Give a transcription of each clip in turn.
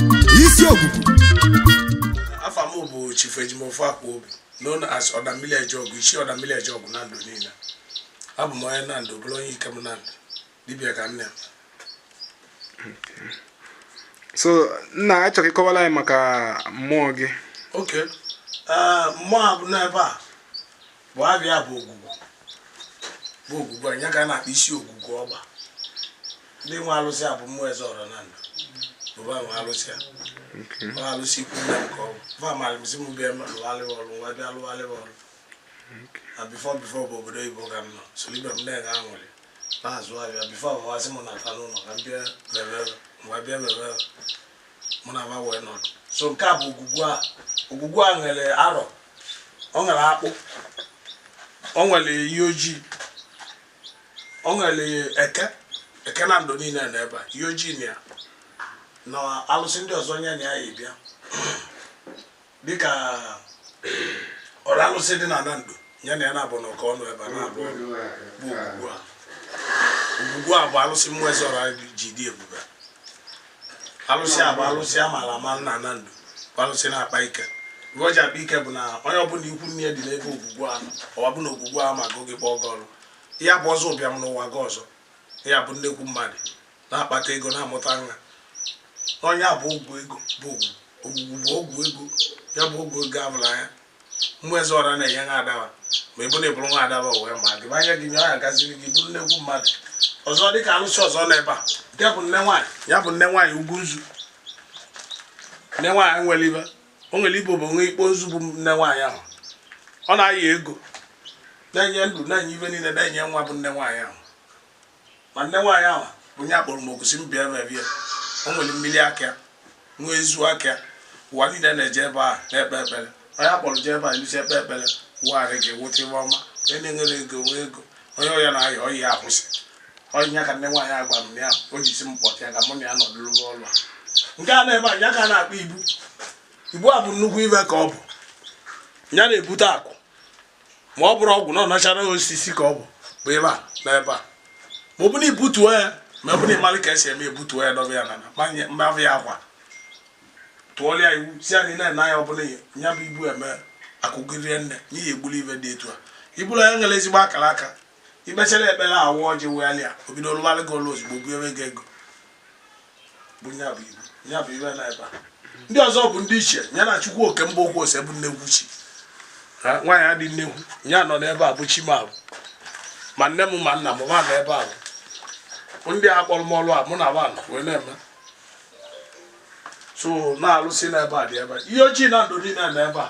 isi ogugu afa m bụ chief ejimofor akwobi known as ọdamili ejeọgụ isi ọdamili ejeọgụ nando niile abụ m onye nando bụrụ onye ikem nando dibịa ka nne m so nna achọrọ ịkọwara anyị maka mmụọ gị okay ee mmụọ a bụ n'ebe a bụ abịa bụ ogwugwu bụ ogwugwu anyị ka a na-akpọ isi ogwugwu ọgba ndị nwe alụsị a bụ ụmụ eze ọra nando bụ va nwe alụsị a ọ alụsị ikwu nne nke ọ bụ va mara m sị m bịa lụvara va ọrụ mụwa bịa lụvara va ọrụ na before before bụ obodo oyibo ka m nọ soro ibe m na-enye aṅụrị na-azụ ahịa before va asị m nata n'ụlọ ka m bịa bebe mụwa bịa bebe mụ na va wee nọdụ so nke a bụ ogwugwu a ogwugwu a nwere arọ ọ nwere akpụ ọ nwere iyi ojii o nwere eke eke nando niile nọ ebe a iyi ojii na ya na alụsị ndị ọzọ nye na ya ya bịa dịka ọra alụsị dị na nando nye na ya na-abụ na ọka ọnụ ebe a na-abụ bụ ogwugwu a ogwugwu a bụ alụsị ụmụ eze ọra ji dị ebube alụsị a bụ alụsị a maara ama na nando bụ alụsị na-akpa ike ive o ji akpa ike bụ na onye ọbụla ikwu nne dị n'ebe ogwugwu ahụ ọwa bụ na ogwugwu ahụ ma gụ gị kpọọ gị ọrụ ya bụ ọzọ ụbịam n'ụwa gị ọzọ ị ya-abụ nnekwu mmadụ na-akpata ego na-amụta nwa ọ ya bụ ọgwụ ego bụ ogwugwu bụ ọgwụ ego ya bụ ọgwụ ego a vụrụ anya ụmụ eze ọra na-enye nwa ada va ma ọ bụ na ị bụrụ nwa ada va wee ma gị anya gị nye ọ ya-agaziri gị ị bụrụ nnekwu mmadụ ọzọ dị ka alụsị ọzọ nọ ebe a ya bụ nne nwaanyị ya bụ nne nwaanyị ugwu nzu nne nwaanyị nwere ibe o nwere ibe bụ nwe ikpo nzu bụ nne nwaanyị ahụ ọ na-enye ego na-enye ndụ na-enye ive niile na-enye nwa bụ nne nwaanyị ahụ ma nne nwaanyị ahụ bụ ya kpọrọ m oku sị m bịa mebe ya o nwere mmiri aka nwa ezu aka ụwa niile na-eje ebe ahụ na-ekpe ekpere onye a kpọrọ jee ebe a elusi ekpe ekpere wụgharị gị wụta ive ọma onye na-enwerọ ego nwee ego onye ọya na-aya ọya ya akwụsị ọ ya ka nne nwaanyị agwa m ya o ji sị m kpọta ya ka mụ na ya nọdụrụ n'ụlọ a nke a nọ ebe a ya ka a na-akpọ ibu ibu a bụ nnukwu ive ka ọ bụ ya na-ebute akụ ma ọ bụrọ ọgwụ na ọ natural osisi ka ọ bụ bụ ive a nọ ebe a ma ọ bụ na ibutuo ya ma ọ bụ na ịmalị ka esi eme ebutuo ya dọba ya n'ana mabụ ya akwa tụọrọ ya iwu sị ya na ị na-ene anya ọbụla ya bụ ibu eme akụ gị erie nne n'ihi ebuli ive dị etu a ibulu ya nwere ezigbo akara aka i kpechara ekpere awa ọjị wegharịa obido lụbalị gị ọlụ ozugbo bunyere gị ego bụ ya bụ ibu ya bụ ibe na ebe a ndị ọzọ bụ ndị ichie ya na chukwu oke mba okwu ose bụ nnekwu chi nwaanyị adị nnekwu ya nọ n'ebe a bụ chi m abụ ma nne m ma nna m ma nọ ebe a bụ ndị a kpọrọ m ọlụ a mụ na nwaanyị wee na-eme so na alụsị n'ebe a dị ebe a. iyi ọjị nando niile na ebe a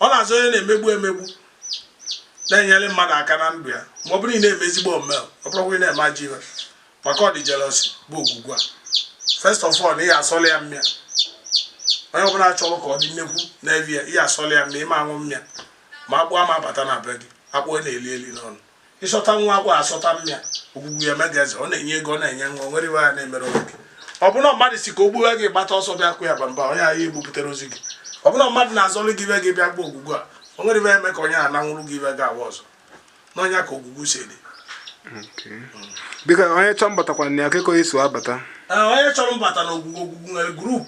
ọ na-azọ onye na-emegbu emegbu na-enyere mmadụ aka na ndụ ya ma ọ bụrụ ị na-eme ezigbo omume ọ bụrụkwa ị na-eme ajọ ihe maka ọ dị jealousy bụ ogwugwu a first of all ị ya-asọlụ ya mmịa onye ọbụla chọrọ ka ọ dị nnekwu na-eve ya ị ya-asọlụ ya mmịa ị ma-aṅụ mmịa ma akpụ ama abata na be gị akpụ na-eli eli n'ọnụ ị sọta nwa akpụ a sọta mmịa ogwugwu ya-eme gị eze ọ na-enye ego ọ na-enye nwa nwere ive ya na-emere onwe gị ọ bụrụ mmadụ sị ka o gbuo gị gbata ọsọ bịa kụ ya bamba onye ahụ egbupụtarọzị gị ọ bụrụ mmadụ na-azọlụ gị ive gị bịa baa ogwugwu a o nwere ive eme ka onye a nanwụrụ gị ive gị awa ọzọ n'ọ nya ka ogwugwu si dị biko onye chọrọ mbatakwa na ya kee ka o si abata onye chọrọ mbata na ogwugwu ogwugwu nwere group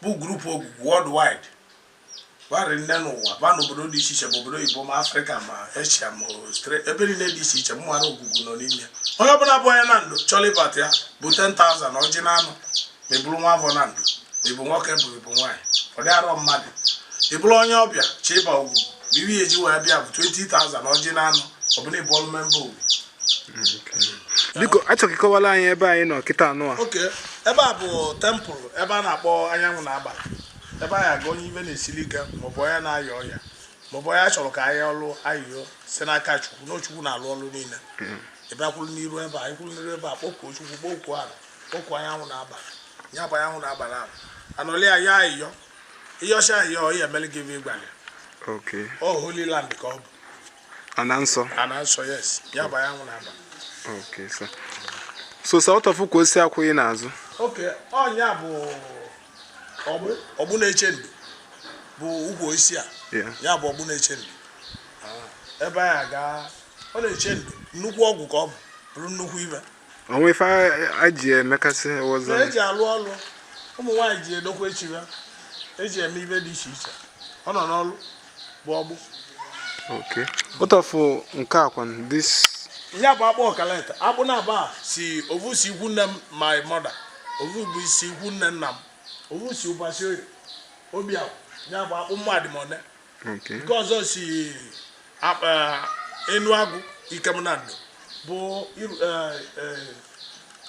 bụ group ogwugwu worldwide gbarị nne n'ụwa ba n'obodo dị iche iche ma obodo oyibo ma africa ma asia ma australia ebe niile dị iche iche mmadụ ogwugwu nọ n'ime onye ọbụla bụ onye nando chọrọ ịbata ya bụ 10,000 na ọjị na anụ ma ị bụrụ nwa afọ nando ma ị bụ nwoke ma ị bụ nwaanyị ọ dị arọ mmadụ ị bụrụ onye ọbịa chọ ịba ogwugwu bụ ive i ji wee bịa bụ 20,000 na ọjị na anụ ọbụla ị bụrụ member ogwugwu biko a chọ ka ị kọwara anyị ebe anyị nọ kịta anụ a okay ebe a bụ temple ebe a na-akpọ anyanwụ na agbala ebe anyị aga onye ive na-esiri ike maọbụ onye na-aya ọya maọbụ onye a chọrọ ka anyị yọọlụ ayịyọ si n'aka chukwu na chukwu na-alụ ọlụ niile ebe a kwụrụ n'iru ebe a ị kwụrụ n'iru ebe a kpọkuo chukwu kpọkuo ala kpọkuo anyanwụ na agbala nya bụ anyanwụ na agbala ahụ a nọlị ayọ ayịyọ ị yọcha ayịyọ ọ ya-emeli gị ive ị gwalị Okay. ọ holy land ka ọ bụ Ana nsọ. ana nsọ yes ya bụ anyanwụ na agbala Okay, sir. So what of ukwu osisi a kwụ gị n'azụ. okay ọ nya bụ ọgbụ na-eche ndo bụ ukwu osisi a ya bụ ọgbụ na-eche ndo ah, ebe anyị aga ọ na-eche ndo nnukwu ọgwụ ka ọ bụ bụrụ nnukwu ive o nwe ife e ji emekasị ọzọ e ji alụ ọlụ ụmụ nwaanyị ji edokwa echi ya e ji eme ive dị iche iche ọ nọ n'ọlụ bụ ọgbụ okay what of uh, nke a kwa this ya bụ akpụ ọkaleta akpụ naabọ a si ovu si ikwu nne m my mother ovu si ikwu nne nna m ovu si ubaruisioye bịa ya bụ akpụ mmadụ ma one nke ọzọ si eh, enu agụ ikem nando bụ eh, eh,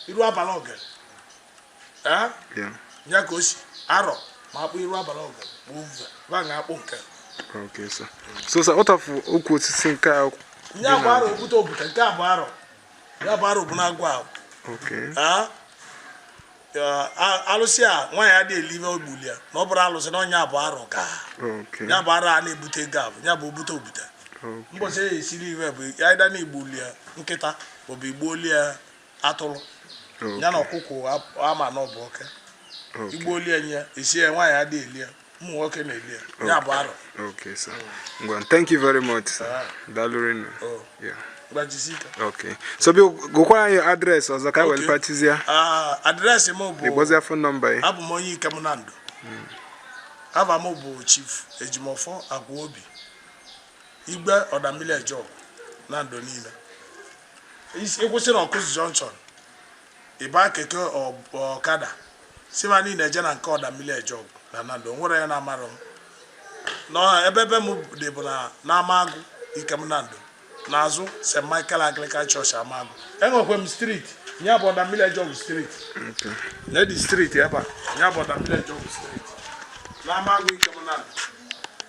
iru agbala ogere ya ka o si arọ ma akpụ iru abalị ọgụ gbuo uve ba na akpụ nke Okay, sir. So, sir, what of okwu osisi nke a? Nya bụ arọ obute obute nke a bụ arọ. Ya bụ arọ bụ n'agwọ ahụ. Okay. alụsị a nwaanyị adị eli ive e gbuli ya na ọ bụrụ alụsị na nya bụ arọ ka ya bụ arọ a na-ebute ego abụ ya bụ obute obute mbọsị ya esiri ive bụ ya ịda na-egbuli ya nkịta maọbụ igbuoli ya atụrụ ya na ọkụkọ ama na ọ bụ oke igbuoli nya isi ya nwaanyị adịghị eli ya ụmụ nwoke na-eli ya ya bụ arọ okay sir ngwa thank you very much sir ah. dalụ rinne oh. okay so bi gụkwara anyị address ọzọ ka were pachizie ah, address m bụ ịgbọzie phone number ya abụ m onye ikem nando hmm. ava m bụ chief ejimofọ agwụobi igwe ọda mmili eje ọgụ nando niile ịkwụsị na ọkụzụ junction ịba keke ọkada sị va na ị na-eje na nke ọda mmili eje ọgụ na nando nwerọ onye na-amarọ m na ebe ebe m dị bụ na n'amagụ ikem nando n'azụ st michael anglican church amagụ enwekwe m street ya bụ ọda mmili eje ọgụ street na dị street ebe a ya bụ ọda mmili eje ọgụ street n'amagụ ikem nando